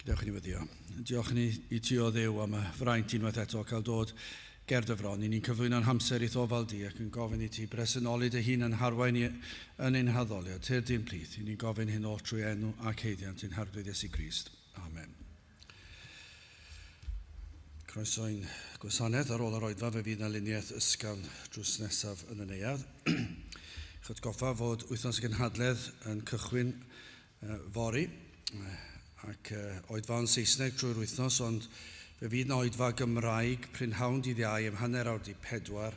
Gadewch i ni weddïo. Diolch i ni, i ti o Dduw am y fraint unwaith eto o cael dod ger dy fron i ni'n cyflwyno'n hamser i'th ofal di ac yn gofyn i ti bresennoli dy hun yn harwain ni yn ein haddoliad. Tyrd di'n plith. I ni'n gofyn hyn oll trwy enw ac haeddiant ein Harglwydd Iesu Grist. Amen. Croeso i'n gwasanaeth ar ôl yr oedfa fe fydd na luniaeth ysgafn drws nesaf yn y neuadd. Chyd goffa fod wythnos y gynhadledd yn cychwyn Fory, ac oedfa yn Saesneg drwy'r wythnos, ond fe fydd 'na oedfa Gymraeg prynhawn dydd Iau am hanner awr 'di pedwar,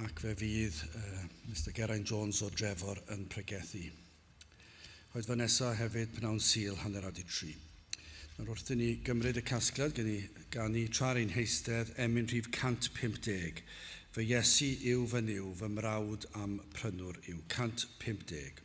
ac fe fydd Mister Geraint Jones o Drefor yn pregethu. Oedfa nesa hefyd p'nawn Sul hanner awr 'di tri. Nawr wrth i ni gymryd y casgliad gen i ganu tra'r ein heistedd emyn rhif 150, Fy Iesu yw fy Nuw, fy mrawd a'm prynwr yw. 150.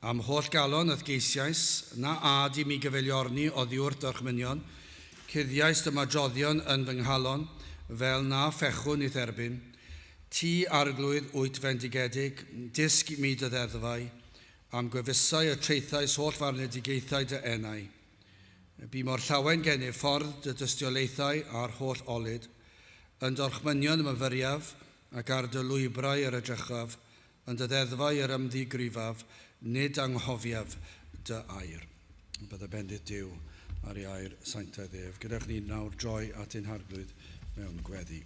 A'm holl galon a'th geisiais, na âd i mi gyfeiliorni oddiwrth d'orchmynion, cuddiais dymadroddion yn fy nghalon, fel na fechwn i'th erbyn. Ti, Arglwydd, wyt fendigedig, dysg mi dy ddeddfau, a'm gwefusau y traethais holl farnedigaethau dy enau. Bu mor llawen gennyf ffordd dy dystiolaethau a'r holl olud. Yn d'orchmynion y myfyriaf, ac ar dy lwybrau yr edrychaf, Yn dy ddeddfau yr ymddigrifaf, nid anghofiaf dy air. Y byddai bendith Duw ar ei air sanctaidd ef. Gyda chni nawr droi at ein harglwydd mewn gweddi.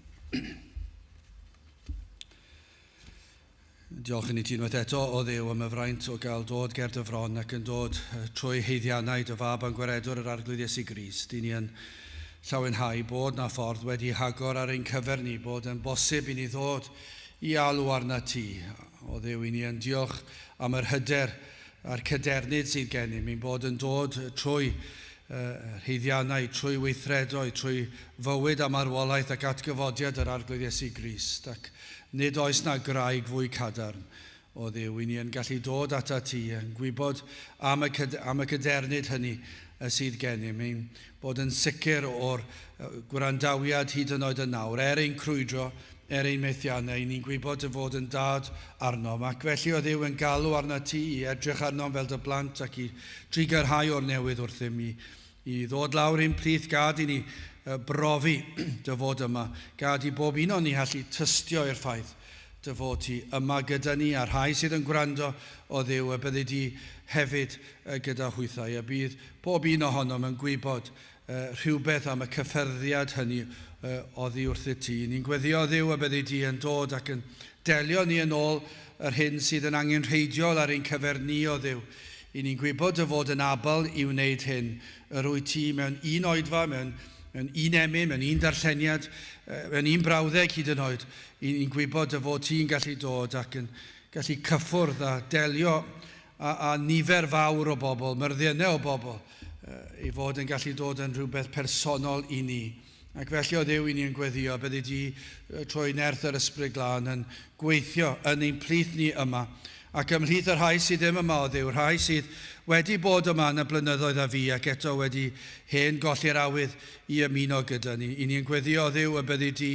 Diolch yn i ti unwaith eto o ddew am y fraint o gael dod ger dy fron ac yn dod trwy heiddiannau dy fab a'n gwaredwr yr Arglwydd Iesu Gris. Dyn ni yn llawenhau bod na ffordd wedi hagor ar ein cyfer ni, bod yn bosib i ni ddod i alw arnat ti, o Dduw i ni yn diolch am yr hyder a'r cadernid sydd gennym i'n bod yn dod trwy rheiddiannau, trwy weithredoedd, trwy fywyd a marwolaeth ac atgyfodiad yr Arglwydd Iesu Grist, ac nid oes na graig fwy cadarn O Dduw, i ni yn gallu dod atat ti, yn gwybod am y, am y cadernid hynny y sydd gennym, ein bod yn sicr o'r gwrandawiad hyd yn oed yn nawr, er ein crwydro, er ein methiannau, i ni'n gwybod dy fod yn dad arnom, ac felly, o Dduw, yn galw arnat ti i edrych arnom fel dy blant ac i drigyrhau o'r newydd wrthym, i I ddod lawr i'n plith gad i ni brofi dy fod yma. Gad i bob un o'n ni hallu tystio i'r ffaith dy fod ti yma gyda ni a'r rhai sydd yn gwrando, o Dduw, y byddi di hefyd gyda hwythau, y bydd pob un ohonom yn gwybod rhywbeth am y cyffyrddiad hynny oddi wrthyt ti. Ni'n gweddïo, o Dduw, y byddi di yn dod ac yn delio ni yn ôl yr hyn sydd yn angenrheidiol ar ein cyfer ni, o Dduw, I ni'n gwybod dy fod yn abl i wneud hyn. Yr wyt ti mewn un oedfa, mewn, mewn un emyn, mewn un darlleniad, mewn un brawddeg hyd yn oed. I ni'n gwybod dy fod ti'n gallu dod ac yn gallu cyffwrdd a delio â, â nifer fawr o bobl, myrddiennau o bobl, i fod yn gallu dod yn rhywbeth personol i ni. Ac felly, o Dduw, i ni yn gweddio, byddi di, trwy nerth yr Ysbryd Glân, yn gweithio yn ein plith ni yma, ac ymhlith y rhai sydd ddim yma, o Dduw, rhai sydd wedi bod yma yn y blynyddoedd a fu, ac eto wedi hen golli'r awydd i ymuno gyda ni. I ni yn gweddio, o Dduw, y byddi di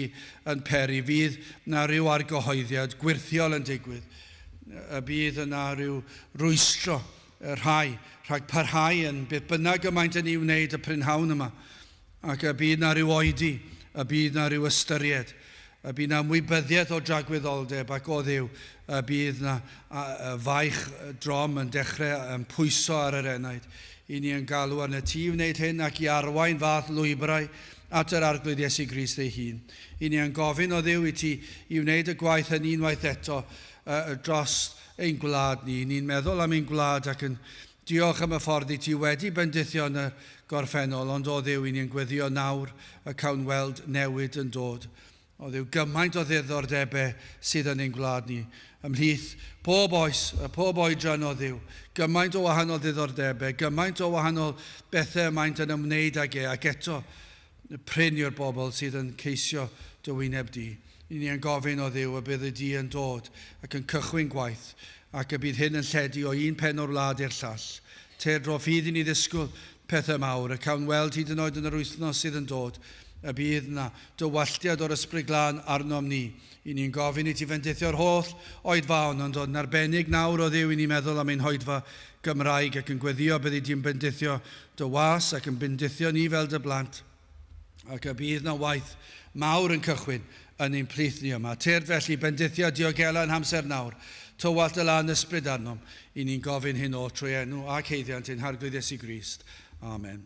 yn peri, fydd na rhyw argyhoeddiad gwyrthiol yn digwydd, y bydd yna rhyw rwystro y rhai rhag parhau yn beth bynnag y maent yn ei wneud y prynhawn yma, Ac y bydd 'na ryw oedi, y bydd 'na ryw ystyried, y bydd 'na ymwybyddiaeth o dragwyddoldeb ac o Dduw, y bydd 'na faich drom yn dechrau yn pwyso ar yr enaid. I ni yn galw arnat ti i wneud hyn ac i arwain fath lwybrau at yr Arglwydd Iesu Grist ei hun. I ni yn gofyn, o Dduw, i ti i wneud y gwaith hynny unwaith eto dros ein gwlad ni. I ni'n meddwl am ein gwlad ac yn Diolch am y ffordd i ti wedi bendithio yn y gorffennol, ond o Dduw i ni yn gweddïo nawr y cawn weld newid yn dod. O Dduw, gymaint o ddiddordebau sydd yn ein gwlad ni, ymhlith pob oes, a phob oedran o Dduw, gymaint o wahanol ddiddordebau, gymaint o wahanol bethau y maent yn ymwneud ag e, ac eto, prin i'r bobl sydd yn ceisio dy wyneb di. Ry'n ni yn gofyn, O Dduw, y bydd y du yn dod ac yn cychwyn gwaith, ac y bydd hyn yn lledu o un pen o'r wlad i'r llall. Teir dro fydd i ni ddisgwyl pethau mawr, y cawn weld hyd yn oed yn yr wythnos sydd yn dod, y bydd na dy walltiad o'r Ysbryd Glân arnom ni. Ry'n ni yn gofyn i ti fendithio'r holl oedfaon, ond yn arbennig nawr, O Dduw, i ni meddwl am ein hoedfa Gymraeg ac yn gweddïo byddi di'n bendithio dy was ac yn bendithio ni fel dy blant, ac y bydd na waith mawr yn cychwyn yn ein plith ni yma. Tyrd felly, bendithia, diogela yn hamser nawr, tywallt dy la'n ysbryd arnom, i ni'n gofyn hyn oll trwy enw ac haeddiant ein Harglwydd Iesu Grist. Amen.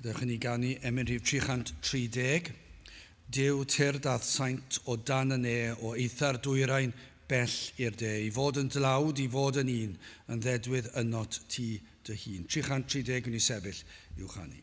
Dewch i ni ganu emyn rhif 330. Dyw tir dath saint o dan y ne o eithr dwyrain bell i'r de, i fod yn dlawd, i fod yn un, yn ddedwydd ynot ti dy hun. 330 gwn i sefyll i'w chanu.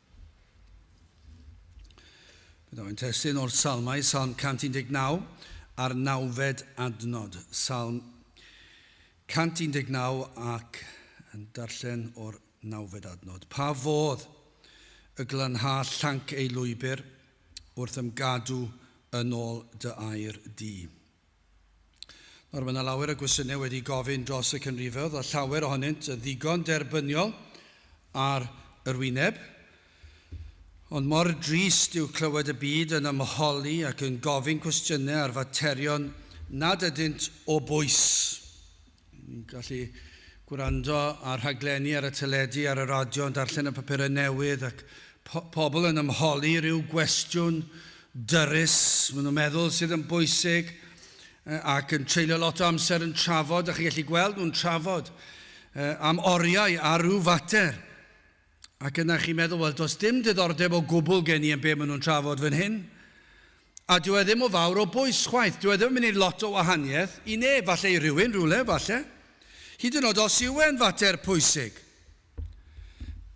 Byddaf yn testun o'r salmau, salm 119, a'r nawfed adnod, salm 119 ac yn darllen o'r nawfed adnod. Pa fodd y glanha llanc ei lwybr wrth ymgadw yn ôl dy air di. Nawr, mae yna lawer o gwestiynau wedi gofyn dros y Cynrifoedd, a llawer ohonynt yn ddigon derbyniol ar yr wyneb. Ond mor drist yw clywed y byd yn ymholi ac yn gofyn cwestiynau ar faterion nad ydynt o bwys. gallu gwrando ar rhaglenni ar y teledu, ar y radio, yn darllen y papurau newydd ac po pobl yn ymholi rhyw gwestiwn dyrus, maen nhw'n meddwl sydd yn bwysig ac yn treulio lot o amser yn trafod, a chi'n gallu gweld nhw'n trafod am oriau ar ryw fater. Ac yna chi'n meddwl, 'Wel, does dim diddordeb o gwbl gen i yn be maen nhw'n trafod fan hyn. A dyw e ddim o fawr o bwys chwaith. Dyw e ddim yn mynd i wneud lot o wahaniaeth i neb, falle i rywun rywle, falle. Hyd yn oed os yw e'n fater pwysig.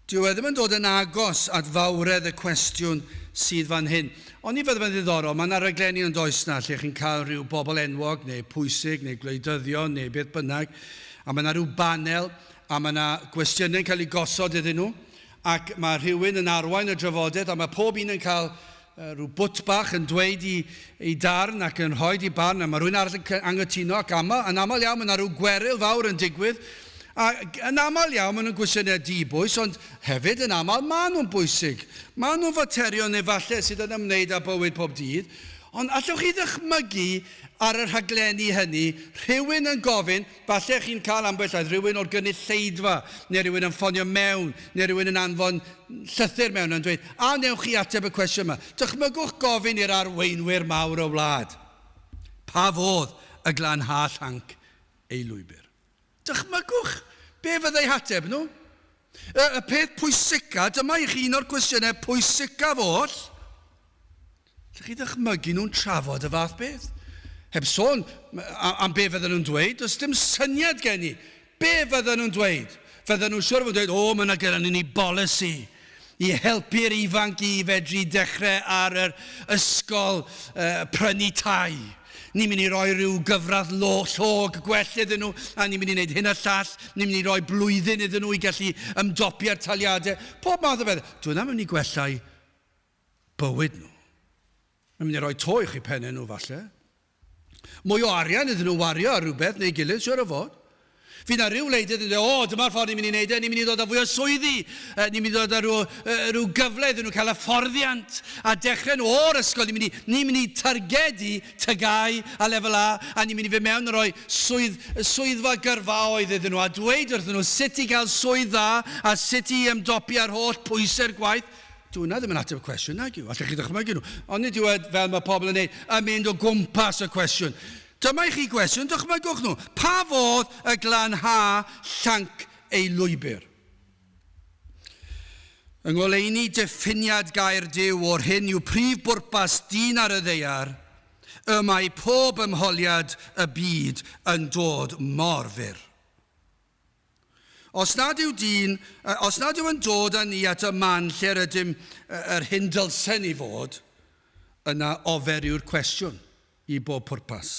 Dyw e ddim yn dod yn agos at fawredd y cwestiwn sydd fan hyn. Ond ni fydde fe'n ddiddorol, mae yna raglenni yn does 'na lle chi'n cael rhyw bobl enwog neu pwysig neu gwleidyddion neu beth bynnag, a mae yna rhyw banel a mae 'na gwestiynau'n cael eu gosod iddyn nhw, ac mae rhywun yn arwain y drafodaeth, a mae pob un yn cael rhyw bwt bach yn dweud eu eu darn ac yn rhoid eu barn, a mae rhywun arall yn anghytuno, ac aml, yn aml iawn mae 'na rhyw gweryl fawr yn digwydd, a yn aml iawn maen nhw'n gwestiynau di-bwys, ond hefyd yn aml maen nhw'n bwysig. Maen nhw'n faterion efallai sydd yn ymwneud â bywyd pob dydd, ond allwch chi ddychmygu ar y rhaglenni hynny rhywun yn gofyn, Falle chi'n cael ambell air rhywun o'r gynulleidfa, neu rhywun yn ffonio mewn, neu rhywun yn anfon llythyr mewn yn dweud, a wnewch chi ateb y cwestiwn yma? Dychmygwch gofyn i'r arweinwyr mawr y wlad, Pa fodd y glanhâ llanc ei lwybr? Dychmygwch be fyddai hateb nhw? Y, y peth pwysica, dyma i chi un o'r cwestiynau pwysica oll. Allwch chi ddychmygu nhw'n trafod y fath beth? Heb sôn am be fydden nhw'n dweud, does dim syniad gen i be fydden nhw'n dweud. Fydden nhw'n siwr o fod yn dweud, 'O, mae yna gennyn ni bolisi i helpu'r ifanc i fedru dechrau ar yr ysgol prynu tai. Ni'n mynd i roi rhyw gyfradd llog gwell iddyn nhw, a ni'n mynd i wneud hyn a'r llall. Ni'n mynd i roi blwyddyn iddyn nhw i gallu ymdopi â'r taliadau. Pob math o bethau. Dyw hwnna ddim yn mynd i gwella'i bywyd nhw. Mae'n mynd i roi to uwch i pennau nhw falle. Mwy o arian iddyn nhw wario ar rhywbeth neu gilydd siwr o fod. Fydd na ryw wleidydd yn dweud, o dyma'r ffordd ni'n mynd i wneud e, ni'n mynd i ddod â fwy o swyddi, ni'n mynd i ddod â rhyw, rhyw gyfle iddyn nhw cael hyfforddiant a dechrau nhw o'r ysgol, ni'n mynd i, ni'n mynd i targedu tygau a lefel A a ni'n mynd i fy mewn yn rhoi swydd, swyddfa gyrfaoedd iddyn nhw a dweud wrthyn nhw sut i gael swydd dda a sut i ymdopi â'r holl pwysau'r gwaith Dyw hwnna ddim yn ateb y cwestiwn, nag yw? Allech chi ddychmygu nhw. Ond nid yw e fel mae pobl yn ei yn mynd o gwmpas y cwestiwn. Dyma i chi gwestiwn, dychmygwch nhw. Pa fodd y glanha llanc ei lwybr? Yng ngoleuni diffiniad gair Duw o'r hyn yw prif bwrpas dyn ar y ddeiar, y mae pob ymholiad y byd yn dod mor fyr. Os nad yw dyn, os nad yw yn dod â ni at y man lle'r ydym yr hyn dylsen i fod, yna ofer yw'r cwestiwn, i bob pwrpas.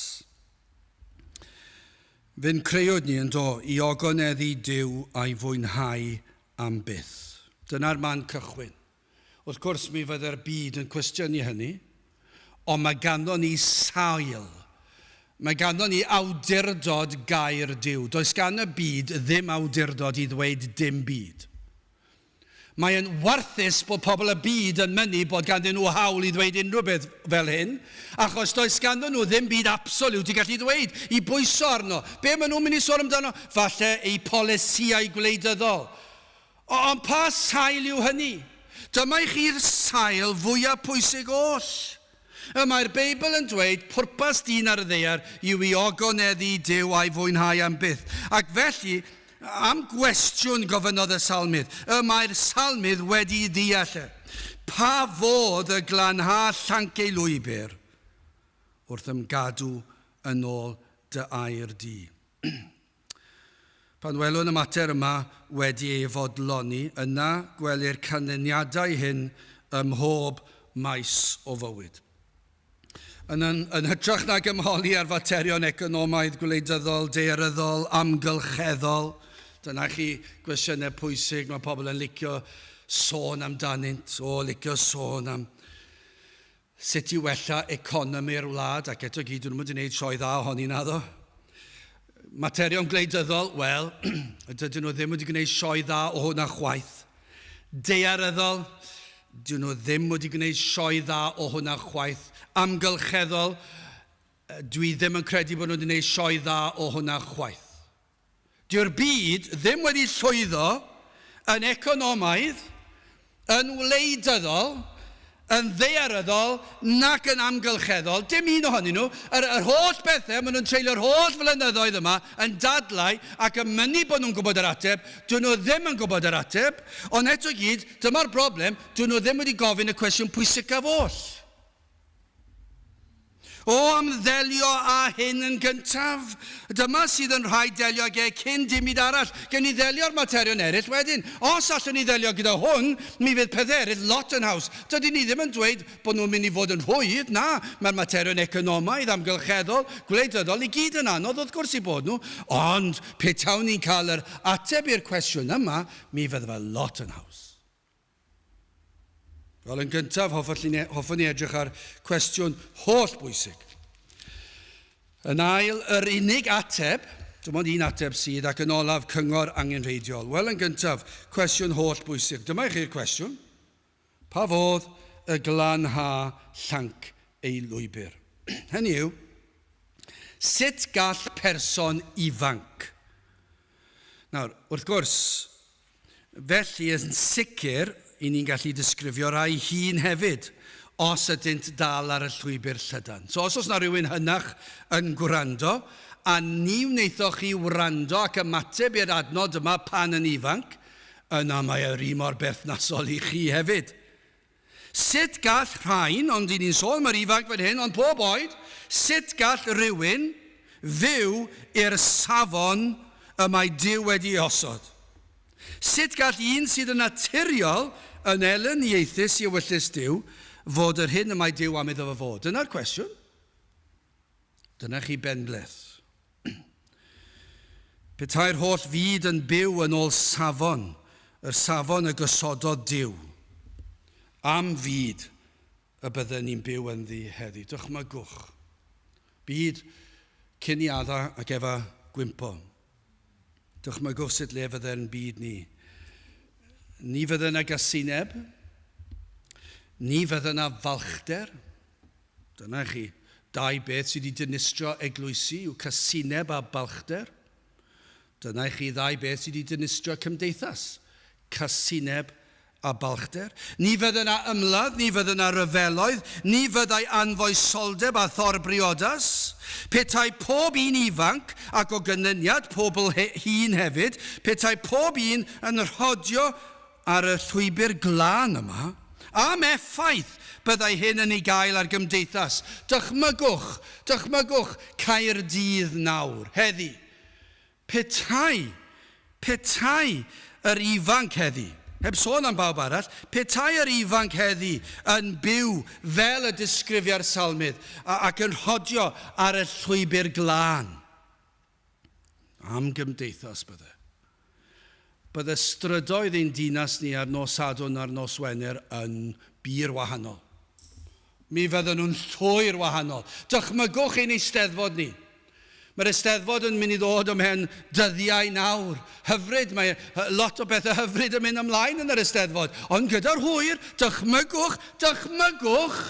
Fe'n creuwyd ni, yndo, i ogoneddu Duw a'i fwynhau am byth. Dyna'r man cychwyn. Wrth gwrs, mi fyddai'r byd yn cwestiynu hynny, ond mae ganddo ni sail. Mae ganddo ni awdurdod gair Duw. Does gan y byd ddim awdurdod i ddweud dim byd. Mae'n warthus bod pobl y byd yn mynnu bod ganddyn nhw hawl i ddweud unrhyw beth fel hyn, achos does ganddyn nhw ddim byd absoliwt i gallu ddweud, i bwyso arno. Be maen nhw'n mynd i sôn amdano? Falle eu polisïau gwleidyddol. O, ond pa sail yw hynny? Dyma i chi'r sail fwyaf pwysig oll. Y mae'r Beibl yn dweud, Pwrpas dyn ar y ddaear yw i ogoneddu i Duw a'i fwynhau am byth. Ac felly, am gwestiwn gofynnodd y Salmydd. Y mae'r Salmydd wedi'i ddeall e. Pa fodd y glanha llanc ei lwybr wrth ymgadw yn ôl dy air di? Pan welwn y mater yma wedi ei fodloni, yna gwelir canlyniadau hyn ym mhob maes o fywyd. Yn yn yn hytrach nag ymholi ar faterion economaidd, gwleidyddol, daearyddol, amgylcheddol, dyna chi gwestiynau pwysig mae pobl yn licio sôn amdanynt, o, licio sôn am Sut i wella economi'r wlad, ac eto gyd, dyn nhw'm wedi neud sioe dda ohoni, naddo? Materion gwleidyddol, wel, dydyn nhw ddim wedi gwneud sioe dda o hwnna chwaith. Daearyddol, dyn nhw ddim wedi gwneud sioe dda o hwnna chwaith. Amgylcheddol, dwi ddim yn credu bod nhw wedi neud sioe dda o hwnna chwaith. Dyw'r byd ddim wedi llwyddo yn economaidd, yn wleidyddol, yn ddaearyddol nac yn amgylcheddol, dim un ohonyn nhw, yr yr holl bethau maen nhw'n treulio'r holl flynyddoedd yma yn dadlau ac yn mynnu bod nhw'n gwybod yr ateb, dydyn nhw ddim yn gwybod yr ateb, ond eto i gyd, dyma'r broblem, dydyn nhw ddim wedi gofyn y cwestiwn pwysicaf oll. O ymddelio â hyn yn gyntaf. Dyma sydd yn rhaid delio ag e cyn dim byd arall. Gewn ni ddelio â'r materion eraill wedyn. Os allwn ni ddelio gyda hwn, mi fydd pethau eraill lot yn haws. Dydyn ni ddim yn dweud bod nhw'n mynd i fod yn rhwydd, na, mae'r materion economaidd, amgylcheddol, gwleidyddol i gyd yn anodd wrth gwrs i bod nhw, ond petawn ni'n cael yr ateb i'r cwestiwn yma, mi fydde fe lot yn haws. Wel, yn gyntaf, e-, hoffwn i edrych ar cwestiwn holl bwysig. Yn ail, yr unig ateb, dim ond un ateb sydd, ac yn olaf, cyngor angenrheidiol. Wel, yn gyntaf, cwestiwn holl bwysig. Dyma i chi'r cwestiwn. Pa fodd y glanha llanc ei lwybr? Hynny yw, sut gall person ifanc... Nawr, wrth gwrs, Felly, yn sicr, i ni'n gallu disgrifio rhai hŷn hefyd, os ydynt dal ar y llwybr llydan. So, os oes na rywun hynach yn gwrando, a ni wnaethoch chi wrando ac ymateb i'r adnod yma pan yn ifanc, yna mae e ry mor berthnasol i chi hefyd. Sut gall rhain, ond i ni'n sôn am yr ifanc fan hyn, ond pob oed, sut gall rhywun fyw i'r safon y mae Duw wedi ei osod? Sut gall un sydd yn naturiol yn elyniaethus i ewyllys Duw fod yr hyn y mae Duw am iddo fo fod? Dyna'r cwestiwn. Dyna chi benbleth. Petai'r holl fyd yn byw yn ôl safon, yr safon y gosododd Duw, am fyd y bydden ni'n byw ynddi heddi? Dychmygwch. Byd cyn i Adda ac Efa gwympo. Dychmygwch sut le fydde'n byd ni. Ni fydde 'na gasineb, ni fydde 'na falchder, Dyna chi dau beth sydd wedi dinistrio eglwysi yw casineb a balchder. Dyna chi ddau beth sydd wedi dinistrio cymdeithas, casineb a balchder. Ni fydde yna ymladd, ni fydde yna ryfeloedd, ni fyddai anfoesoldeb a thor briodas. Petai pob un ifanc, ac o gynlyniad pobl hŷn hefyd, petai pob un yn rhodio ar y llwybr glân yma, am effaith byddai hyn yn ei gael ar gymdeithas, dychmygwch, dychmygwch Caerdydd nawr, heddi. Petai, petai yr ifanc heddi, heb sôn am bawb arall, petai yr ifanc heddi yn byw fel y disgrifia'r Salmydd, ac yn rhodio ar y llwybr glân. Am gymdeithas bydde. Bydde strydoedd ein dinas ni ar nos Sadwrn a'r nos Wener yn bur wahanol. Mi fydden nhw'n llwyr wahanol. Dychmygwch ein Eisteddfod ni. Mae'r Eisteddfod yn mynd i ddod ymhen dyddiau nawr. Hyfryd, mae lot o bethau hyfryd yn mynd ymlaen yn yr Eisteddfod. Ond gyda'r hwyr, dychmygwch, dychmygwch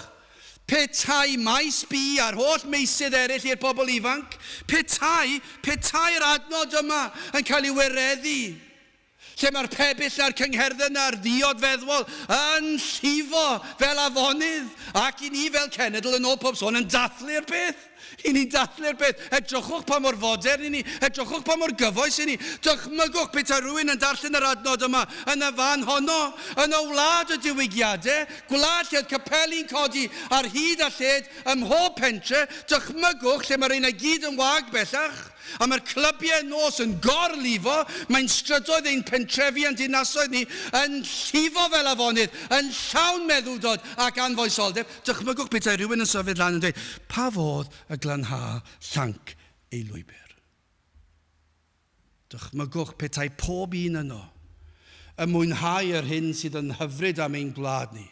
Petai mai SBI a'r holl meysydd eraill i'r pobl ifanc, petai, petai'r adnod yma yn cael ei wireddu, lle mae'r pebyll a'r cyngherdded a'r ddiod feddwol yn llifo fel afonydd, ac i ni fel cenedl, yn ôl pob sôn, yn dathlu'r peth. I ni ddathlu'r peth, edrychwch pa mor fodern i ni, edrychwch pa mor gyfoes i ni. Dychmygwch petai rhywun yn darllen yr adnod yma yn y fan honno, yn y wlad y diwygiadau, gwlad lle oedd capeli'n codi ar hyd a lled ym mhob pentre, dychmygwch lle mae rheina i gyd yn wag bellach, a mae'r clybiau nos yn gor-lifo, mae'n strydoedd ein pentrefi a'n dinasoedd ni yn llifo fel afonydd, yn llawn meddwdod ac anfoesoldeb. Dychmygwch petai rhywun yn symud lan yn dweud, 'Pa fodd y glanhâa llanc ei lwybr? Dychmygwch petai pob un yno yn mwynhau yr hyn sydd yn hyfryd am ein gwlad ni,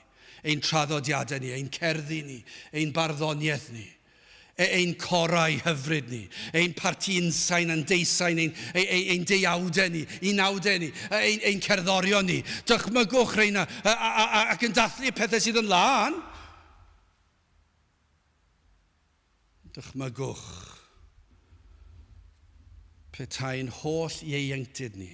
ein traddodiadau ni, ein cerddi ni, ein barddoniaeth ni. ein corau hyfryd ni, ein parti unsain a'n deusain, ein, ein, ein deuawdau ni, unawdau ni, ein, ein cerddorion ni. Dychmygwch reina ac yn dathlu y pethau sydd yn lân. Dychmygwch petae'n holl ieuenctid ni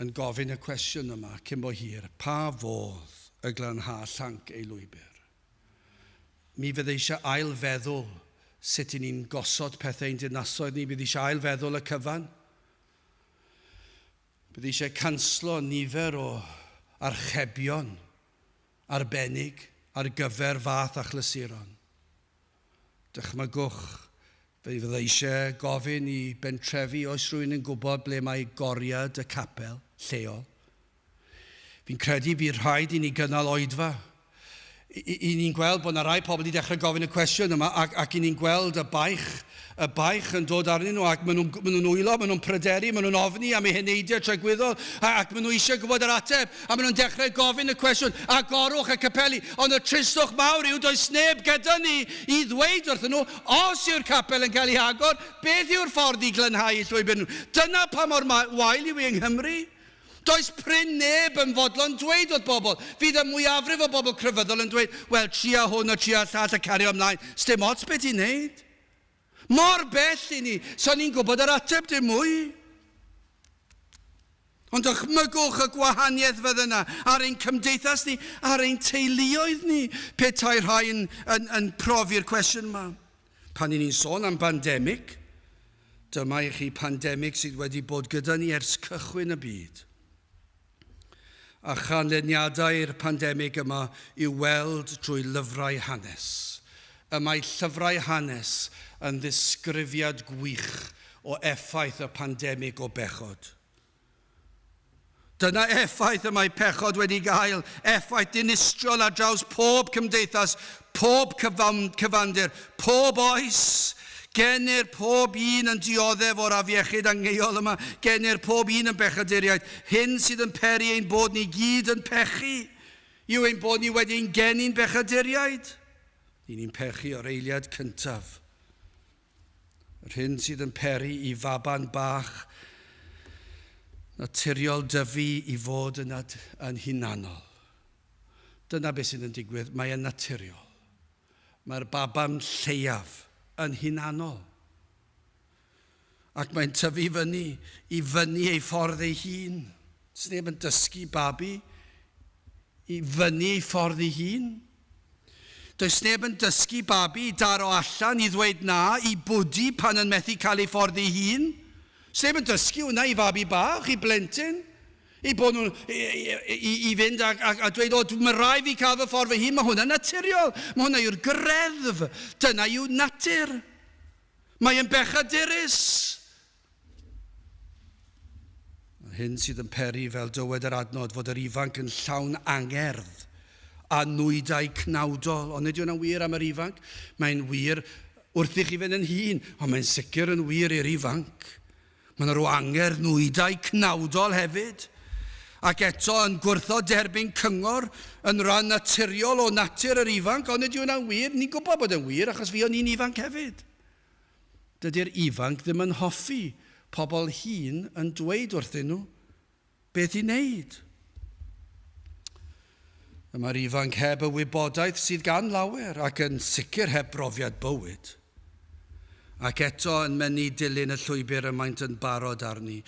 yn gofyn y cwestiwn yma cyn bo hir, pa fodd y glanhâ llanc ei lwybr? Mi fydd eisiau ail-feddwl sut i ni'n gosod pethau i'n dinasoedd ni, bydd eisiau ail-feddwl y cyfan, bydd eisiau canslo nifer o archebion arbennig ar gyfer fath achlysuron. Dychmygwch, fe fydda' i eisiau gofyn i bentrefi oes rhywun yn gwybod ble mae goriad y capel lleol. Fi'n credu bydd rhaid i ni gynnal oedfa. I, i, i ni'n gweld bod 'na rai pobl 'di dechrau gofyn y cwestiwn yma ac, ac i ni'n gweld y baich y baich yn dod arnyn nhw ac maen nhw'n, maen nhw'n wylo, maen nhw'n pryderu, maen nhw'n ofni am eu heneidiau tregwyddol ac maen nhw eisiau gwybod yr ateb a maen nhw'n dechrau gofyn y cwestiwn, agorwch y capeli, ond y tristwch mawr yw does neb gyda ni i ddweud wrthyn nhw os yw'r capel yn cael ei hagor, beth yw'r ffordd i glanhau eu llwybr nhw. Dyna pa mor wael yw e yng Nghymru. Does prin neb yn fodlon dweud wrth bobl. Fydd y mwyafrif o bobl crefyddol yn dweud, wel, tria hwn a tria llall a cario ymlaen, sdim ots be ti'n wneud. Mor bell i ni, so ni'n gwybod yr ateb dim mwy. Ond dychmygwch y gwahaniaeth fydd yna ar ein cymdeithas ni, ar ein teuluoedd ni, petai rhai yn, yn, yn profi'r cwestiwn yma. Pan i ni'n sôn am bandemig, dyma i chi pandemig sydd wedi bod gyda ni ers cychwyn y byd. a chanlyniadau'r pandemig yma i'w weld drwy lyfrau hanes. Y mae llyfrau hanes yn ddisgrifiad gwych o effaith y pandemig o bechod. Dyna effaith y mae pechod wedi gael, effaith dinistriol ar draws pob cymdeithas, Pob cyfandir, pob oes, gennyr, pob un yn dioddef o'r afiechyd angheuol yma, gennyr, pob un yn bechaduriaid. Hyn sydd yn peri ein bod ni gyd yn pechu yw ein bod ni wedi ein geni'n bechaduriaid. Y'n ni'n pechu o'r eiliad cyntaf. Yr hyn sydd yn peri i faban bach naturiol dyfu i fod yn hunanol. Dyna beth sydd yn digwydd, mae e'n naturiol. Mae'r baban lleiaf yn hunanol. Ac mae'n tyfu fyny, i fyny ei ffordd ei hun. Sneb yn dysgu babi i fyny ei ffordd ei hun. Does neb yn dysgu babi i daro allan, i ddweud na, i bwdi pan yn methu cael ei ffordd ei hun. Sneb yn dysgu hwnna i fabi bach, i blentyn. eu bod nhw'n i fynd a dweud, o, mae rhaid fi cael fy ffordd fy hun, mae hwnna'n naturiol, mae hwnna yw'r greddf, dyna yw natur. Mae yn bechadurus. Yr hyn sydd yn peri, fel dywed yr adnod, fod yr ifanc yn llawn angerdd a nwydau cnawdol. Ond nid yw'n wir am yr ifanc, mae'n wir wrthych chi fynd yn hun, ond mae'n sicr yn wir i'r ifanc. Mae yna ryw angerdd nwydau cnawdol hefyd, ac eto yn gwrthod derbyn cyngor yn ran naturiol o natur yr ifanc, ond ydy hwnna'n wir? Ni'n gwybod bod e'n wir achos fuon ni'n ifanc hefyd. Dydy'r ifanc ddim yn hoffi pobl hŷn yn dweud wrthyn nhw Beth i wneud? Y mae'r ifanc heb y wybodaeth sydd gan lawer ac yn sicr heb brofiad bywyd. Ac eto yn mynnu dilyn y llwybr y maent yn barod arni.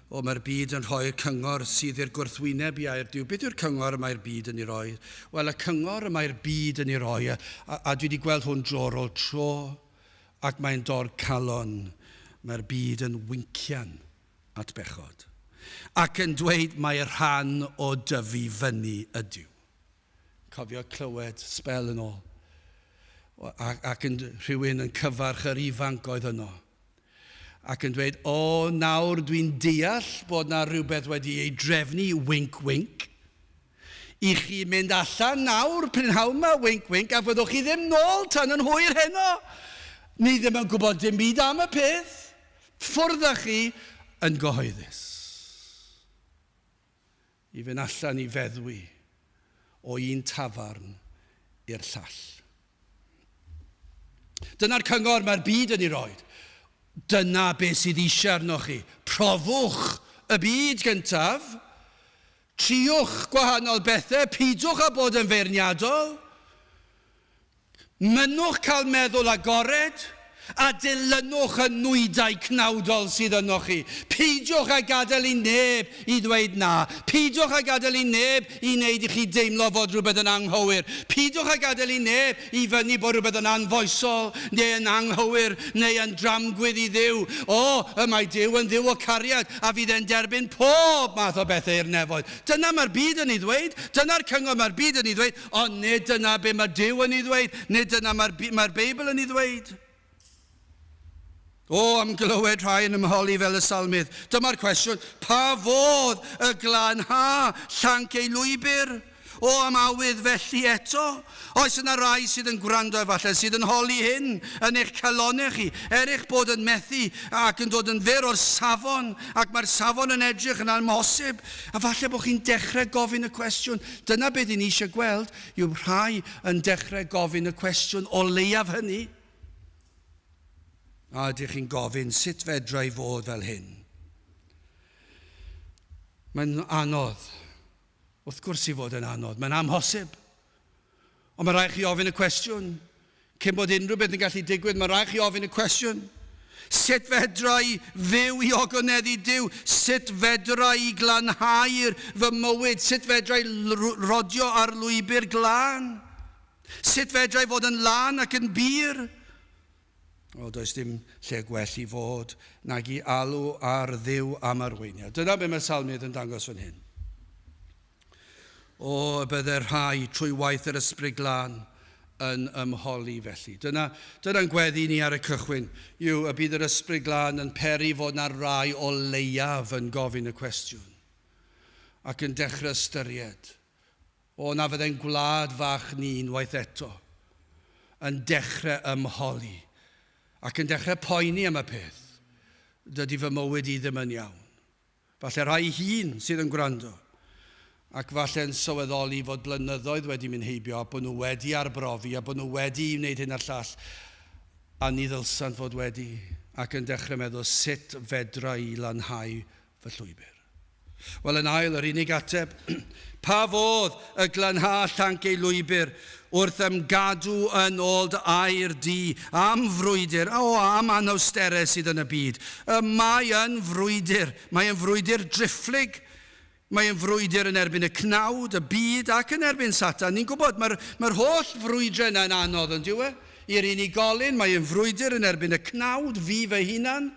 O, mae'r byd yn rhoi'r cyngor sydd i'r gwrthwyneb i air Duw. Beth yw'r cyngor y mae'r byd yn ei roi? Wel, y cyngor y mae'r byd yn ei roi, a, a, a dwi wedi gweld hwn dro ar ôl tro, ac mae'n dor calon, mae'r byd yn wincian. at bechod, ac yn dweud mai rhan o dyfu fyny ydyw. Cofio clywed, sbel yn ôl, ac yn rhywun yn cyfarch yr ifanc oedd yno, ac yn dweud, O, nawr dwi'n deall bod 'na rywbeth wedi ei drefnu, winc, winc. I chi mynd allan nawr, prynhawn 'ma, winc, winc, a fyddwch chi ddim nôl tan yn hwyr heno! Ni ddim yn gwybod dim byd am y peth. Ffwrdd â chi yn gyhoeddus. I fynd allan i feddwi o un tafarn i'r llall. Dyna'r cyngor mae'r byd yn ei roi. Dyna beth sydd eisiau arnoch chi. Profwch y byd gyntaf. Triwch gwahanol bethau. Peidiwch â bod yn feirniadol. Mynnwch cael meddwl agored, a dilynwch y nwydau cnawdol sydd ynoch chi. Peidiwch â gadael i neb i ddweud na. Peidiwch â gadael i neb i wneud i chi deimlo fod rhywbeth yn anghywir. Peidiwch â gadael i neb i fynnu bod rhywbeth yn anfoesol, neu yn anghywir, neu yn dramgwydd i Dduw. O, y mae Duw yn Dduw o cariad, a fydd e'n derbyn pob math o bethau i'r nefoedd. Dyna mae'r byd yn ei ddweud. Dyna'r cyngor mae'r byd yn ei ddweud. Ond nid dyna be mae Duw yn ei ddweud, nid dyna mae'r mae Beibl yn ei ddweud. O, am glywed rhai yn ymholi fel y salmydd. Dyma'r cwestiwn, pa fodd y glanha llanc ei lwybr? O, am awydd felly eto? Oes yna rai sydd yn gwrando efallai, sydd yn holi hyn yn eich calonnau chi, er eich bod yn methu ac yn dod yn fyr o'r safon, ac mae'r safon yn edrych yn amhosib, a falle bod chi'n dechrau gofyn y cwestiwn, Dyna be dyn ni eisiau gweld, yw rhai yn dechrau gofyn y cwestiwn o leiaf hynny, a ydych chi'n gofyn sut fedra i fod fel hyn? Mae'n anodd. Wrth gwrs i fod yn anodd. Mae'n amhosib. Ond mae'n rhaid i chi ofyn y cwestiwn. Cyn bod unrhyw beth yn gallu digwydd, mae'n rhaid i chi ofyn y cwestiwn. Sut fedra i fyw i ogoneddid Duw? Sut fedra i glanhau fy mywyd? Sut fedra i rodio ar lwybr glân? Sut fedra i fod yn lân ac yn bur? Wel, does dim lle gwell i fod nag i alw ar Dduw am arweiniad. Dyna be mae Salmydd yn dangos fan hyn. O, y bydde rhai, trwy waith yr Ysbryd Glân, yn ymholi felly. Dyna, dyna'n gweddi ni ar y cychwyn, yw y bydd yr Ysbryd Glân yn peri fod na rai o leiaf yn gofyn y cwestiwn, ac yn dechrau ystyried, O, na fydde'n gwlad fach ni unwaith eto, yn dechrau ymholi, ac yn dechrau poeni am y peth, Dydy fy mywyd i ddim yn iawn. Falle rhai hŷn sydd yn gwrando ac falle'n sylweddoli fod blynyddoedd wedi mynd heibio a bod nhw wedi arbrofi a bod nhw wedi i wneud hyn a'r llall a ni ddylsant fod wedi ac yn dechrau meddwl 'sut fedra i lanhau fy llwybr? Wel, yn ail, yr unig ateb pa fodd y glanha llanc ei lwybr Wrth ymgadw yn ôl dy air di am frwydr, o, am anawsterau sydd yn y byd. Y mae yn frwydr. Mae yn frwydr driphlyg. Mae yn frwydr yn erbyn y cnawd, y byd, ac yn erbyn Satan. Ni'n gwybod, mae'r mae'r holl frwydrau yna yn anodd, yn dyw e? I'r unigolyn, mae yn frwydr yn erbyn y cnawd, fi fy hunan.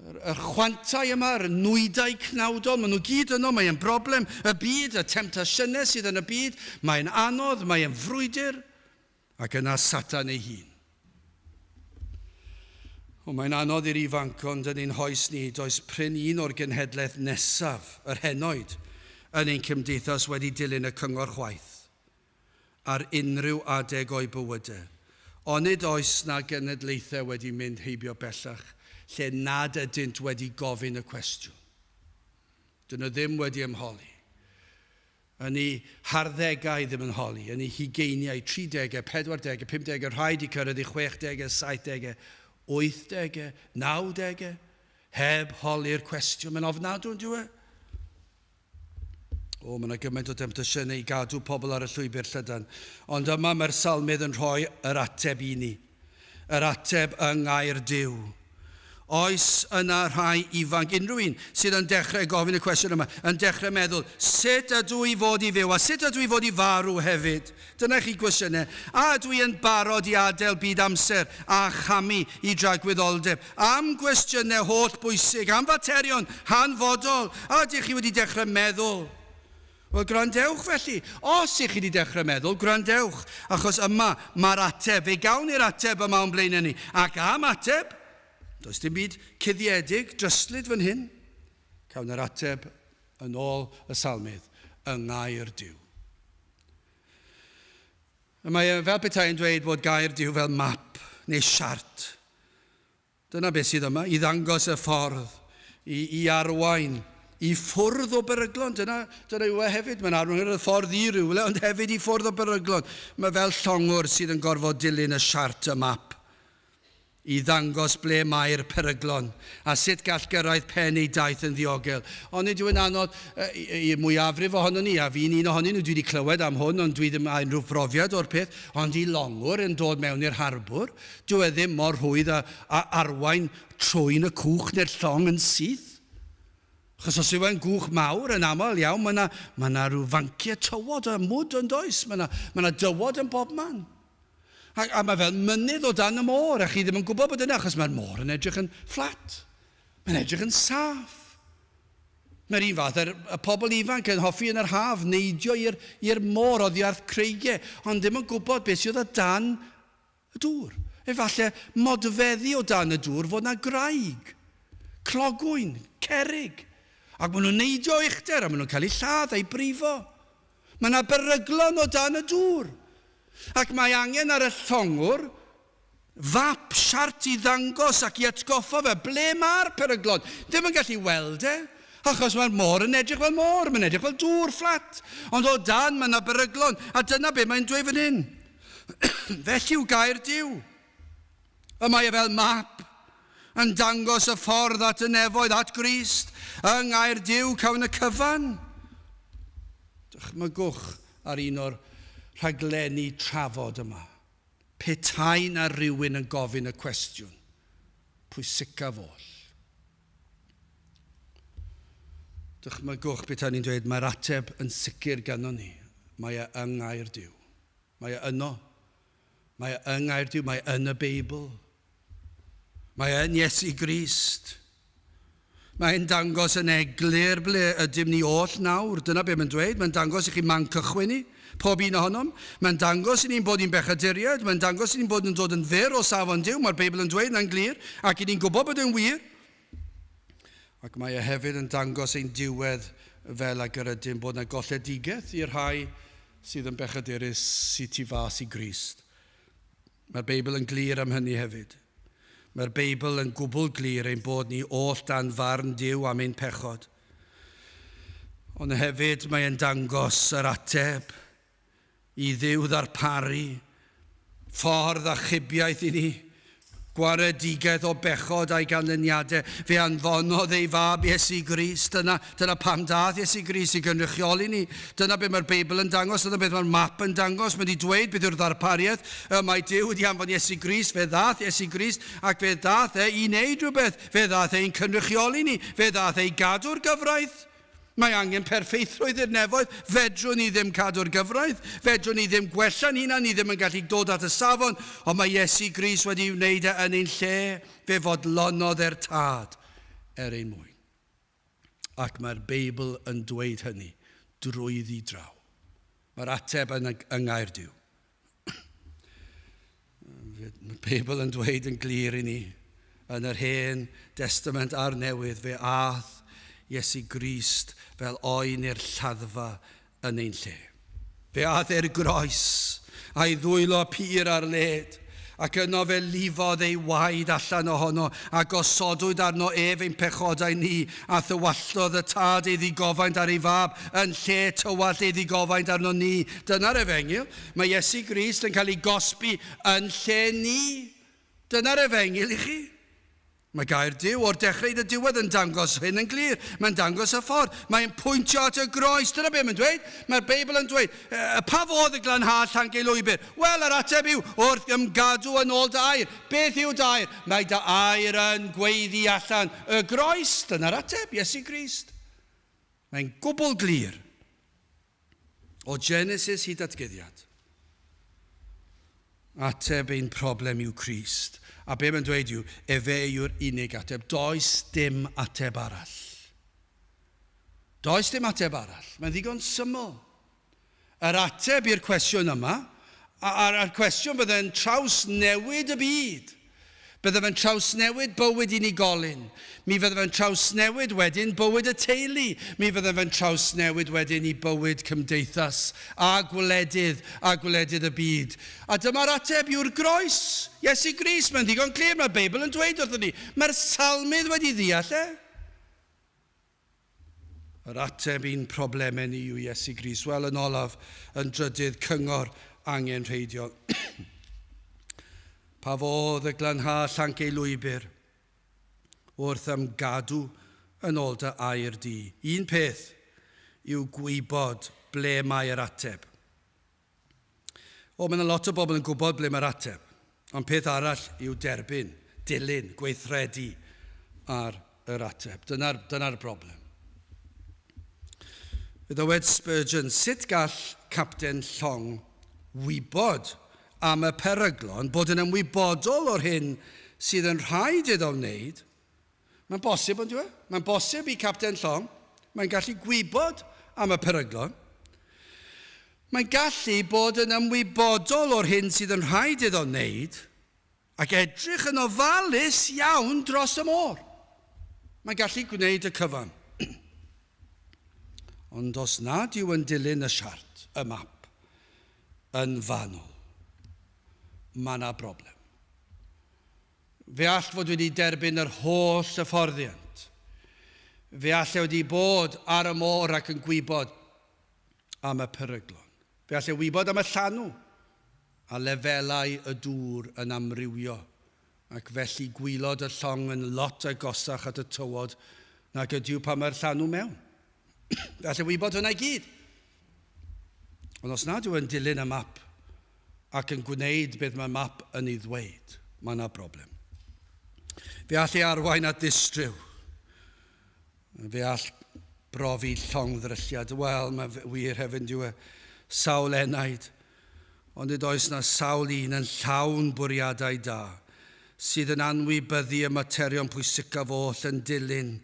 Yr chwantau yma, yr nwydau cnawdol, maen nhw gyd yno, mae e'n broblem y byd, y temtasiynau sydd yn y byd, mae e'n anodd, mae e'n frwydr, ac yna Satan ei hun. O, mae'n anodd i'r ifanc, ond yn ein hoes ni, does prin un o'r genhedlaeth nesaf, yr henoed, yn ein cymdeithas wedi dilyn y cyngor chwaith. ar unrhyw adeg o'i bywyde. Onid oes 'na genedlaethau wedi mynd heibio bellach lle nad ydynt wedi gofyn y cwestiwn? Dyn nhw ddim wedi ymholi. Yn eu harddegau, ddim yn holi, yn eu hugeiniau, tridegau, pedwardegau, pumdegau, rhai 'di cyrraedd eu chwechdegau, saithdegau, wythdegau, nawdegau, heb holi'r cwestiwn. Mae'n ofnadw, yn dyw e? O, mae yna gymaint o demtasiynau i gadw pobl ar y llwybr llydan. Ond yma mae'r salmydd yn rhoi yr ateb i ni. Yr ateb yng ngair Dyw. Oes yna rhai ifanc, unrhyw un, sydd yn dechrau gofyn y cwestiwn yma, yn dechrau meddwl, sut ydw i fod i fyw a sut ydw i fod i farw hefyd? Dyna chi gwestiynau. A ydw i yn barod i adael byd amser a chamu i dragwyddoldeb? Am gwestiynau holl bwysig, am faterion hanfodol. A ydych chi wedi dechrau meddwl? Wel, gwrandewch felly. Os ych chi wedi dechrau meddwl, gwrandewch, achos yma mae'r ateb. Fe gawn ni'r ateb yma o'n blaenau ni. Ac am ateb, does dim byd cuddiedig, dryslyd fan hyn. Cawn yr ateb Yn ôl y Salmydd, yng ngair Duw. Y mae e fel petai yn dweud bod gair Duw fel map neu siart. Dyna beth sydd yma, i ddangos y ffordd, i, i arwain, i ffwrdd o beryglon. Dyna, dyna yw e hefyd, mae'n arwain y ffordd i rywle, ond hefyd i ffwrdd o beryglon. Mae fel llongwr sydd yn gorfod dilyn y siart, y map. i ddangos ble mae'r peryglon a sut gall gyrraedd pen ei daith yn ddiogel. Ond nid yw'n anodd i'r mwyafrif ohonon ni, a fi'n un ohonyn nhw, dwi wedi clywed am hwn ond dwi ddim â unrhyw brofiad o'r peth, ond i longwr yn dod mewn i'r harbwr, dyw e ddim mor rhwydd â arwain trwyn y cwch neu'r llong yn syth. Achos os yw e'n gwch mawr, yn aml iawn mae 'na, mae 'na rhyw fanciau tywod a mwd yn does? Mae 'na, mae 'na dywod yn bobman. A, a mae fel mynydd o dan y môr, a chi ddim yn gwybod bod yna, achos mae'r môr yn edrych yn fflat. Mae'n edrych yn saff. Mae'r un fath a'r y pobl ifanc yn hoffi yn yr haf neidio i'r môr oddi wrth creigiau, ond ddim yn gwybod beth sydd o dan y dŵr. Efallai modfeddi o dan y dŵr fod yna graig, clogwyn, cerig, ac maen nhw'n neidio uchder a maen nhw'n cael eu lladd a'u brifo. Mae yna beryglon o dan y dŵr, ac mae angen ar y llongwr fap, siart, i ddangos ac i atgoffa fe ble mae'r peryglon. Ddim yn gallu weld e, achos mae'r môr yn edrych fel môr, mae'n edrych fel dŵr fflat, ond o dan mae yna beryglon, a dyna be mae'n dweud fan hyn. Felly yw gair Duw. Y mae e fel map yn dangos y ffordd at y nefoedd, at Grist, yng Nghaerdyw, Cawn y Cyfan. Dychmygwch ar un o'r rhaglenni trafod yma, petai 'na rywun yn gofyn y cwestiwn pwysicaf oll. Dychmygwch petai ni'n dweud mae'r ateb yn sicr ganddo ni, mae e yng Nghaerdyw. Mae e yno, Mae yng Ngair Duw, mae yn y Beibl. Mae yn Iesu Grist. Mae'n dangos yn eglur ble ydym ni oll nawr. Dyna be mae'n dweud. Mae'n dangos i chi man cychwyn ni, pob un ohonom. Mae'n dangos i ni'n bod ni'n bechaduriaid. Mae'n dangos i ni'n bod yn dod yn fyr o safon Duw. Mae'r Beibl yn dweud na'n glir, ac i ni'n gwybod bod e'n wir. Ac mae e hefyd yn dangos ein diwedd fel ag yr ydym, bod 'na golledigaeth i'r rhai sydd yn bechadurus sy tu fas i Grist. Mae'r Beibl yn glir am hynny hefyd. Mae'r Beibl yn gwbl glir ein bod ni oll dan farn Duw am ein pechod. Ond hefyd mae e'n dangos yr ateb i Dduw ddarparu ffordd achubiaeth i ni, gwaredigaeth o bechod a'i ganlyniadau. Fe anfonodd ei Fab, Iesu Grist. Dyna, dyna pam daeth Iesu Grist, i gynrychioli ni. Dyna beth mae'r Beibl yn dangos, dyna beth mae'r map yn dangos. Mae wedi dweud beth yw'r ddarpariaeth. Y mae Duw wedi anfon Iesu Grist, fe ddaeth Iesu Grist, ac fe ddaeth e i wneud rhywbeth. Fe ddaeth e i'n cynrychioli ni, fe ddaeth e i gadw'r gyfraith. Mae angen perffeithrwydd i'r nefoedd, fedrwn ni ddim cadw'r gyfraith, fedrwn ni ddim gwella'n hunan, ni ddim yn gallu dod at y safon, ond mae Iesu Grist wedi ei wneud e yn ein lle, fe fodlonodd e'r Tad er ein mwyn. Ac mae'r Beibl yn dweud hynny drwyddi draw. Mae'r ateb yn y, yng Nghaerdyw. Mae Beibl yn dweud yn glir i ni, yn yr Hen Destament a'r Newydd, fe ath Iesu Grist fel oen i'r lladdfa yn ein lle. Fe ath e'r groes, a'i ddwylo pur ar led, Ac yno fe lifodd ei waed allan ohono, a gosodwyd arno ef ein pechodau ni, a thywalltodd y Tad ei ddigofaint ar ei Fab, yn lle tywallt ei ddigofaint arno ni. Dyna'r Efengyl. Mae Iesu Grist yn cael ei gosbi yn lle ni. Dyna'r Efengyl i chi. Mae gair Duw o'r dechrau i 'n y diwedd yn dangos hyn yn glir. Mae'n dangos y ffordd. Mae'n pwyntio at y groes. Dyna be mae'n dweud. Mae'r Beibl yn dweud, yy, pa fodd y glanhad llanc ei lwybr? Wel, yr ateb yw, wrth ymgadw yn ôl dy air. Beth yw dy air? Mae dy air yn gweiddi allan. Y groes, dyna'r ateb, Iesu Grist. Mae'n gwbl glir. O Genesis i Datguddiad. Ateb ein problem yw Crist. A be mae'n dweud yw, efe yw'r unig ateb. Does dim ateb arall. Does dim ateb arall. Mae'n ddigon syml. Yr ateb i'r cwestiwn yma, a'r cwestiwn fydde'n traws newid y byd, Byddaf yn trawsnewid bywyd unigolyn. Mi fyddaf yn trawsnewid wedyn bywyd y teulu. Mi fyddaf yn trawsnewid wedyn i bywyd cymdeithas a gwledydd a gwledydd y byd. A dyma'r ateb yw'r groes. Iesu Grist, mae'n ddigon clir, mae'r Beibl yn dweud wrthon ni. Mae'r Salmydd wedi ddeall e. Yr ateb i'n problemau ni yw Iesu Grist. Wel, yn olaf, yn drydydd cyngor angenrheidiol. pa fodd y glanha llanc ei lwybr wrth ymgadw yn ôl dy air di? Un peth yw gwybod ble mae yr ateb. O, mae yna lot o bobl yn gwybod ble mae'r ateb. Ond peth arall yw derbyn, dilyn, gweithredu ar yr ateb. Dyna'r dyna broblem. Fe ddywed Spurgeon, sut gall capten llong wybod am y peryglon, bod yn ymwybodol o'r hyn sydd yn rhaid iddo wneud, Mae'n bosib, ond yw Mae'n bosib i capten llong, mae'n gallu gwybod am y peryglon. Mae'n gallu bod yn ymwybodol o'r hyn sydd yn rhaid iddo wneud ac edrych yn ofalus iawn dros y môr. Mae'n gallu gwneud y cyfan. Ond os nad yw yn dilyn y siart, y map, yn fanwl, mae yna broblem. Fe all fod wedi derbyn yr holl hyfforddiant. Fe all e wedi bod ar y môr ac yn gwybod am y peryglon. Fe all e wybod am y llanw a lefelau y dŵr yn amrywio, ac felly gwylod y llong yn lot agosach at y tywod nag ydyw pan mae'r llanw mewn. Gallai wybod hwnna i gyd. Ond os nad yw'n dilyn y map ac yn gwneud beth mae map yn ei ddweud, mae yna broblem. Fe all ei arwain at ddistryw. Fe all brofi llongddrylliad. Wel, mae fe wir hefyd, dyw e, sawl enaid. Ond nid oes na sawl un yn llawn bwriadau da, sydd yn anwybyddu y materion pwysicaf oll yn dilyn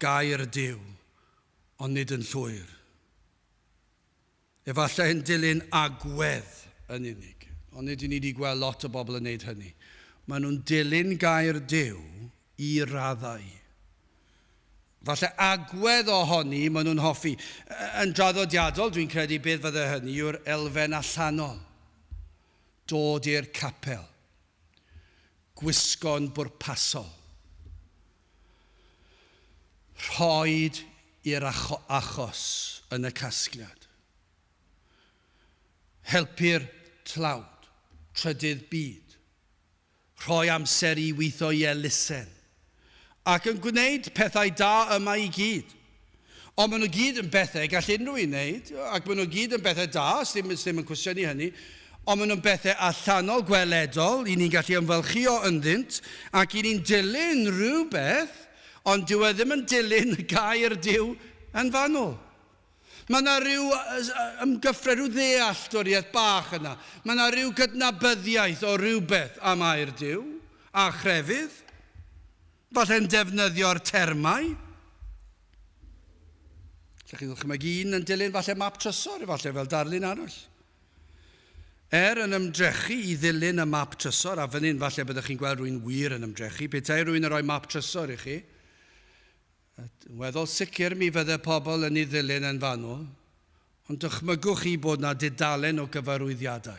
gair Duw, ond nid yn llwyr. Efallai yn dilyn agwedd yn unig, ond nid i ni wedi gweld lot o bobl yn neud hynny. Mae nhw'n dilyn gair Duw i raddau. Falle agwedd ohoni mae nhw'n hoffi. Yn draddodiadol, dwi'n credu beth fydde hynny yw'r elfen allanol. Dod i'r capel. Gwisgo'n bwrpasol. Rhoid i'r achos yn y casgliad. Helpu'r tlawd, trydydd byd. Rhoi amser i weithio i elusen. Ac yn gwneud pethau da yma i gyd. Ond maen nhw gyd yn bethau y gall unrhyw un wneud, ac maen nhw gyd yn bethau da, sdim, sdim yn cwestiynu hynny, ond maen nhw'n bethau allanol, gweledol, i ni'n gallu ymfalchïo ynddynt, ac i ni'n dilyn rhywbeth, ond dyw e ddim yn dilyn y gair Duw yn fanwl. Mae yna rhyw ymgyffred, rhyw ddealltwriaeth bach yna. Mae yna rhyw gydnabyddiaeth o rywbeth am air Duw, a chrefydd. Falle'n defnyddio'r termau. Lle chi'n ddychmygu un yn dilyn falle map trysor, efallai fel darlun arall. Er yn ymdrechu i ddilyn y map trysor, a fan hyn falle byddwch chi'n gweld rwy'n wir yn ymdrechu, petai rwy'n rhoi map trysor i chi, yn weddol sicr mi fydde pobl yn ei ddilyn yn fanwl, ond dychmygwch chi bod yna dudalen o gyfarwyddiadau.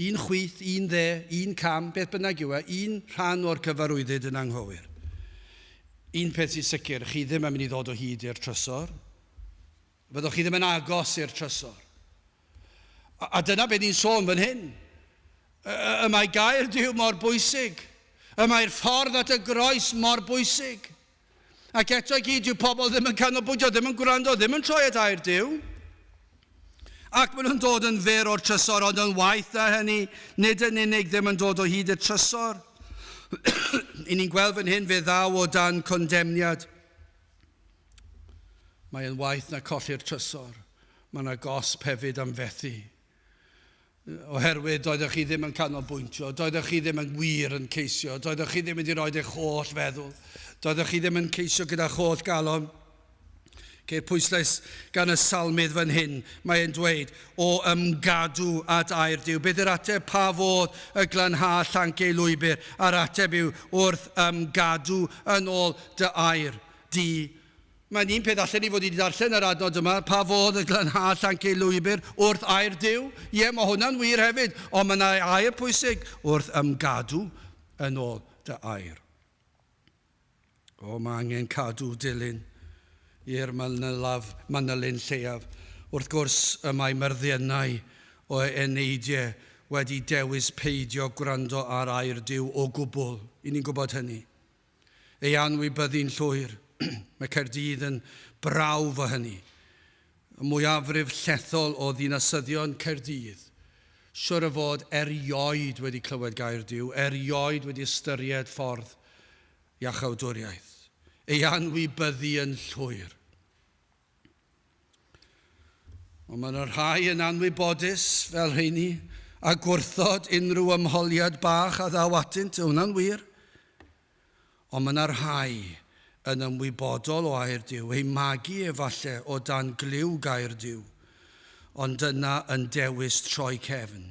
Un chwith, un dde, un cam, beth bynnag yw e, un rhan o'r cyfarwyddyd yn anghywir. Un peth sy'n sicr, chi ddim yn mynd i ddod o hyd i'r trysor. Fyddoch chi ddim yn agos i'r trysor. A, a dyna beth ni'n sôn fan hyn. Y mae gair Dyw mor bwysig. Y mae'r ffordd at y groes mor bwysig. Ac eto i gyd, dyw pobl ddim yn canolbwyntio, ddim yn gwrando, ddim yn troi at air Duw. Ac maen nhw'n dod yn fyr o'r trysor, ond yn waeth na hynny, nid yn unig ddim yn dod o hyd y trysor. I ni'n gweld fan hyn fe ddaw o dan condemniad. Mae'n waeth na colli'r trysor. Mae yna gosb hefyd am fethu. oherwydd doeddech chi ddim yn canolbwyntio, doeddech chi ddim yn wir yn ceisio, doeddech chi ddim wedi rhoi eich holl feddwl, doeddech chi ddim yn ceisio gyda'ch holl galon. Ceir pwyslais gan y salmydd fan hyn, mae e'n dweud, o ymgadw at air Duw. Beth yw'r ateb? Pa fodd y glanha llanc ei lwybr? A'r ateb yw, wrth ymgadw yn ôl dy air di, Mae'n un peth allen ni fod wedi darllen yr adnod yma, pa fodd y glanhâd llanc ei lwybr wrth air Duw? Ie, mae hwnna'n wir hefyd, ond mae yna air pwysig, wrth ymgadw yn ôl dy air. O, mae angen cadw dilyn i'r manylaf, manylyn lleiaf. Wrth gwrs, y mae myrddiennau o eneidiau wedi dewis peidio gwrando ar air Duw o gwbl. I ni'n gwybod hynny. ei anwybyddu'n llwyr. Mae Caerdydd yn brawf o hynny. Y mwyafrif llethol o ddinasyddion Caerdydd, siwr o fod, erioed wedi clywed gair Duw, erioed wedi ystyried ffordd iachawdwriaeth, ei anwybyddu yn llwyr. Ond mae yna rhai yn anwybodus fel rheini a gwrthod unrhyw ymholiad bach a ddaw atynt, hwnna'n wir. Ond mae yna rhai yn ymwybodol o air Duw, ei magu efallai o dan glyw gair Duw, ond yna yn dewis troi cefn.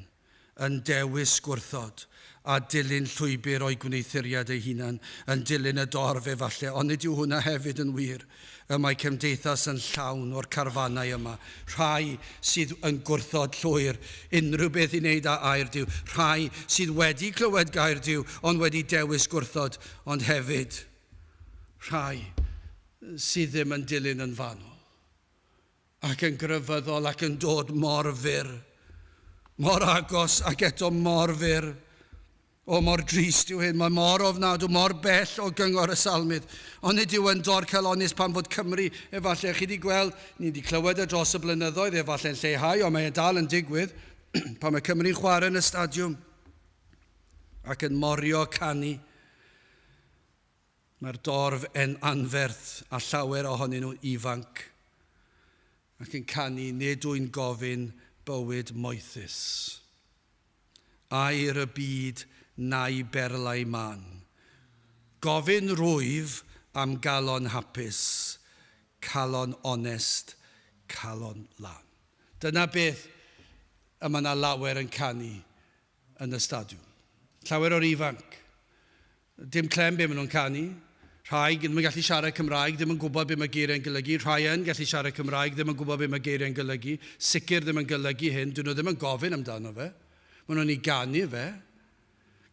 yn dewis gwrthod a dilyn llwybr o'i gwneuthuriad ei hunan, yn dilyn y dorf efalle, ond nid yw hwnna hefyd yn wir? Y mae cymdeithas yn llawn o'r carfanau yma, rhai sydd yn gwrthod llwyr unrhyw beth i wneud â air Duw, rhai sydd wedi clywed gair Duw ond wedi dewis gwrthod, ond hefyd rhai sydd ddim yn dilyn yn fanwl. ac yn grefyddol ac yn dod mor fyr, mor agos ac eto mor fyr. O, mor drist yw hyn, mae mor ofnadw, mor bell o gyngor y Salmydd. Ond nid yw yn dorcalonnus pan fod Cymru, efallai, chi wedi gweld, ni wedi clywed e dros y blynyddoedd, efallai'n lleihau, ond mae e dal yn digwydd, pan mae Cymru'n chwarae yn y stadiwm ac yn morio canu. Mae'r dorf yn anferth a llawer ohonyn nhw'n ifanc ac yn canu nid yw'n gofyn bywyd moethus. Air y byd na'u berlau mân. Gofyn rwyf am galon hapus, calon onest, calon lân. Dyna beth y mae 'na lawer yn canu yn y stadiwm. Llawer o'r ifanc. Dim clem be ma nhw'n canu. Rhai, ddim yn gallu siarad Cymraeg, ddim yn gwybod be mae geiriau'n golygu. Rhai yn gallu siarad Cymraeg, ddim yn gwybod be mae geiriau'n golygu. Sicr ddim yn golygu hyn, dyn nhw ddim yn gofyn amdano fe. Mae nhw'n ei ganu fe.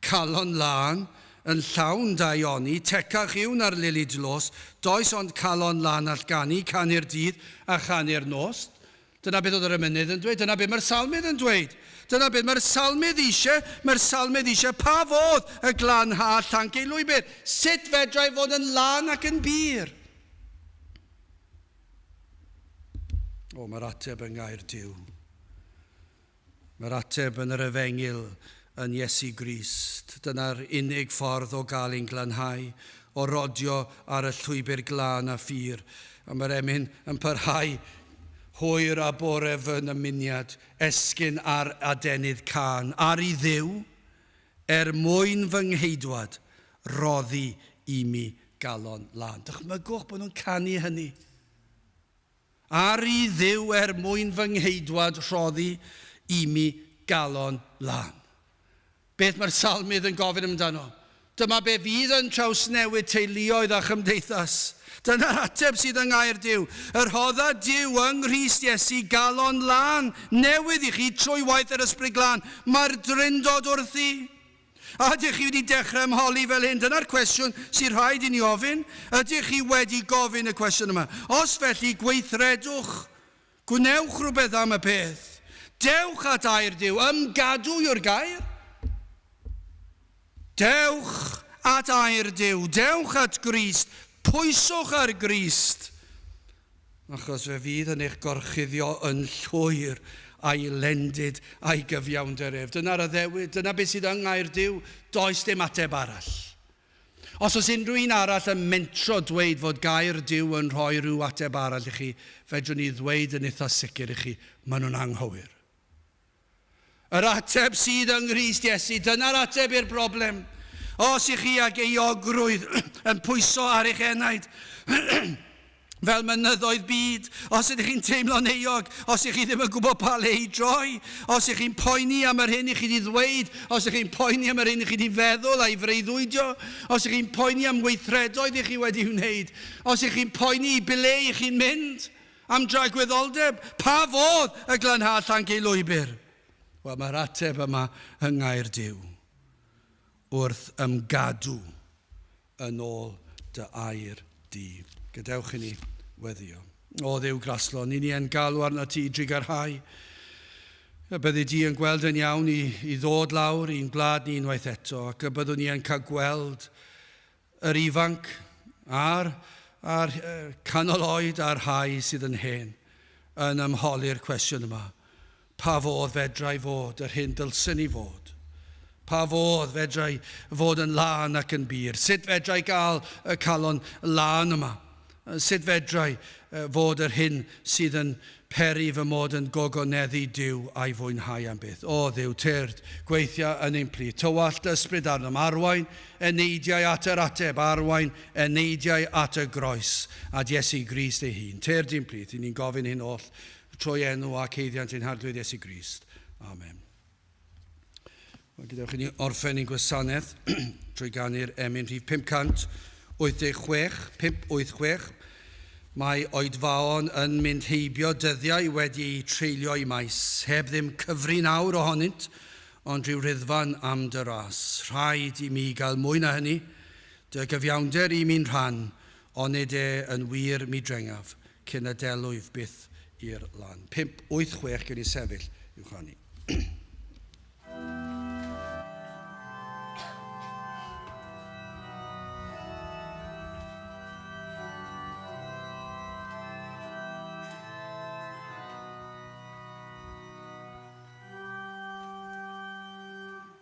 Calon Lân, yn llawn dau oni, tecach yw na'r Lili Dlos, does ond calon lân all ganu, canu'r dydd a chanu'r nos. Dyna beth oedd yr emynydd yn dweud. Dyna beth mae'r salmydd yn dweud. Dyna beth mae'r salmydd eisiau. Mae'r salmydd eisiau pa fodd y glanhad llanc ei lwybr. Sut fedra i fod yn lân ac yn bur? O, mae'r ateb yng ngair Duw. Mae'r ateb yn yr efengyl, yn Iesu Grist. Dyna'r unig ffordd o gael ein glanhau, o rodio ar y llwybr glân a phur. A mae'r emyn yn parhau hwyr a bore fy nymuniad, esgyn ar adenydd cân, ar i Dduw, er mwyn fy ngheidwad, roddi i mi galon lân. Dychmygwch bod nhw'n canu hynny. Aru Dduw er mwyn fy ngheidwad rhoddi imi galon lân. Beth mae'r Salmydd yn gofyn amdano? Dyma be fydd yn trawsnewid teuluoedd a chymdeithas. Dyna'r ateb sydd yng Ngair Duw. Y rhodda Duw yng Nghrist Iesu galon lân newydd i chi trwy waith yr Ysbryd Glân. Mae'r Drindod wrthi. A ydych chi wedi dechrau ymholi fel hyn? Dyna'r cwestiwn sy'n rhaid i ni ofyn. Ydych chi wedi gofyn y cwestiwn yma? Os felly, gweithredwch. Gwnewch rhywbeth am y peth. Dewch at air Duw. Ymgadw yw'r gair. Dewch at air Duw. Dewch at Grist. Pwyswch ar Grist. achos fe fydd yn eich gorchuddio yn llwyr a'i lendid a'i gyfiawnder ef. Dyna'r addewid, dyna beth sydd yng Ngair Duw, does dim ateb arall. Os oes unrhyw un arall yn mentro dweud fod Gair Duw yn rhoi rhyw ateb arall i chi, fedrwn i ddweud yn itha sicr i chi, maen nhw'n anghywir. Yr ateb sydd yng Nghrist Iesu, dyna'r ateb i'r broblem. Os ych chi ag euogrwydd yn pwyso ar eich enaid, fel mynyddoedd byd, os ydych chi'n teimlo'n euog, os ych chi ddim yn gwybod pa le i droi, os ych chi'n poeni am yr hyn i chi di ddweud, os ych chi'n poeni am yr hyn i chi di feddwl a'i freuddwydio, os ych chi'n poeni am weithredoedd i chi wedi wneud, os ych chi'n poeni i ble i chi'n mynd, Am dragwyddoldeb, pa fodd y glanhâd llanc ei lwybr? Wel, mae'r ateb yma yng ngair Duw, Wrth ymgadw yn ôl dy air di. Gadewch i ni weddio. O Dduw graslon, i ni yn galw arnat ti i drigarhau, y byddi di yn gweld yn iawn i, i ddod lawr i'n gwlad ni unwaith eto, ac y byddwn ni yn cael gweld yr ifanc a'r a'r canol oed a'r rhai sydd yn hen, yn ymholi'r cwestiwn yma, pa fodd fedrai fod yr hyn dylsen ni fod? Pa fodd fedrai fod yn lân ac yn bur? Sut fedrai gael y calon lân yma? Sut fedrai fod yr hyn sydd yn peri fy mod yn gogoneddu Duw a'i fwynhau am byth? O Dduw, tyrd, gweithia yn ein plith. Tywallt dy ysbryd arnom. Arwain y neidiau at yr ateb. Arwain y neidiau at y groes, at Iesu Grist ei hun. Tyrd i'n plith. Y'n ni'n gofyn hyn oll trwy enw a ceiddiant ein Harglwydd Iesu Grist. Amen. Mae gyda chi ni orffen i'n gwasanaeth trwy ganu'r emyn rhif 586, 586. Mae oedfaon yn mynd heibio dyddiau wedi eu treulio i maes, heb ddim cyfri nawr ohonynt, ond rhyw ryddfan am dy ras. Rhaid i mi gael mwy na hynny, dy gyfiawnder i mi'n rhan, onid e yn wir mi drengaf. Cyn y delwyf byth i'r lan. Pump, wyth, chwech, gewn ni sefyll i'w chanu.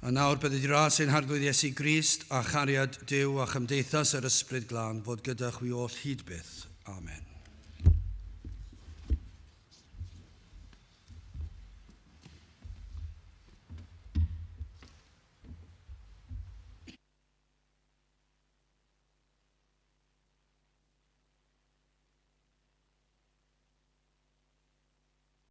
A nawr, bydd y ras ein Harglwydd Iesu Grist, a chariad Duw, a chymdeithas yr Ysbryd Glân fod gyda chwi oll hyd byth. Amen.